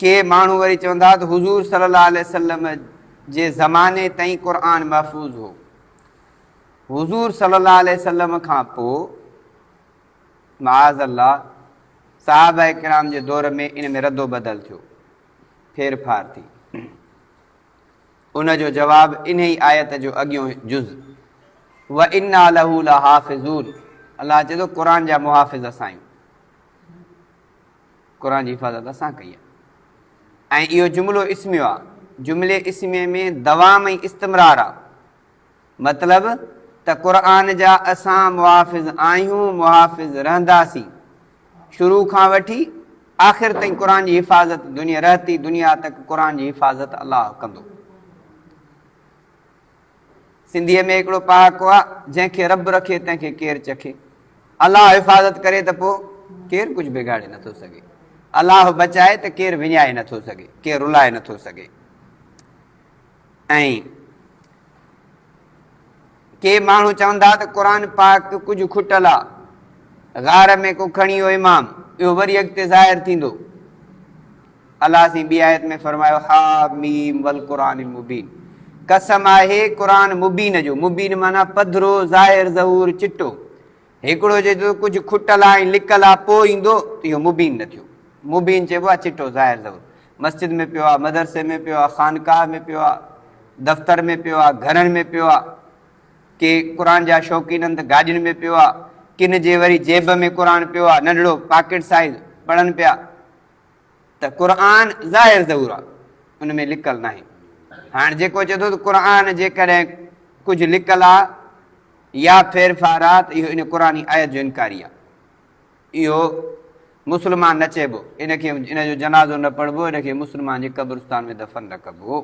ڪي ماڻهو وري چوندا ته حضور صلي الله عليه وسلم جي زماني تائين قرآن محفوظ هو، حضور صلي الله عليه وسلم کان پوء معاذ الله صحابه ڪرام جي دور ۾ ان ۾ ردوبدل ٿيو، ڦير ڦار ٿي. ان جو جواب انهي آيت جو اڳيون جز وَإِنَّا لَهُ لَحَافِظُونَ الله چئي ٿو قرآن جا محافظ اسان آهيون. قرآن جي حفاظت اسان ڪئي آهي. ۽ اهو جملو اسميو آهي. جملي اسمي ۾ دوام ۽ استمرار آهي. مطلب ته قرآن جا اسان محافظ آهيون، محافظ رهنداسين. شروع کان وٺي آخر تائين قرآن جي حفاظت دنيا رهتي دنيا تڪ قرآن جي حفاظت الله ڪندو. سنڌيء ۾ هڪڙو پهاڪو آ، جنهن کي رب رکي تنهن کي ڪير چکي. الله حفاظت ڪري ته پوء ڪير ڪجهه بگاڙي نه ٿو سگهي. الله بچائي ته ڪير وڃائي نه ٿو سگهي، ڪير رلائي نه ٿو سگهي. ۽ ڪي ماڻهو چون ٿا ته قرآن پاڪ ڪجهه کٽل آ، غار ۾ ڪو کڻي ويو امام، اهو وري اڳتي ظاهر ٿيندو. الله سائين ٻي آيت ۾ فرمايو، حٰ ميم والقرآن المبين، قسم آهي قرآن مبين جو، مبين معنيٰ پڌرو، ظاهر، ظهور، چٽو. هڪڙو چئي ٿو ته ڪجهه کٽل آ ۽ لڪل آ پوء ايندو ته اهو مبين نه ٿيو. مبين چئبو آ چٽو، ظاهر، ظهور. مسجد ۾ پيو آ، مدرسي ۾ پيو آ، خانقاهه ۾ پيو آ، دفتر ۾ پيو آ، گهرن ۾ پيو آ. ڪي قرآن جا شوقين آهن ته گاڏين ۾ پيو آ، ڪن جي وري جيب ۾ قرآن پيو آ، ننڍڙو پاڪيٽ سائيز، پڙهن پيا. ته قرآن ظاهر ضرور آ ان ۾ لڪل ناهي هاڻ جيڪو چئي ٿو ته قرآن جيڪڏهن ڪجهه لڪل آ يا ڦيرڦار آ ته اهو ان قرآني آيت جو انڪاري آ اهو مسلمان نه چئبو ان کي ان جو جنازو نه پڙهبو ان کي مسلمان جي قبرستان ۾ دفن نه ڪبو.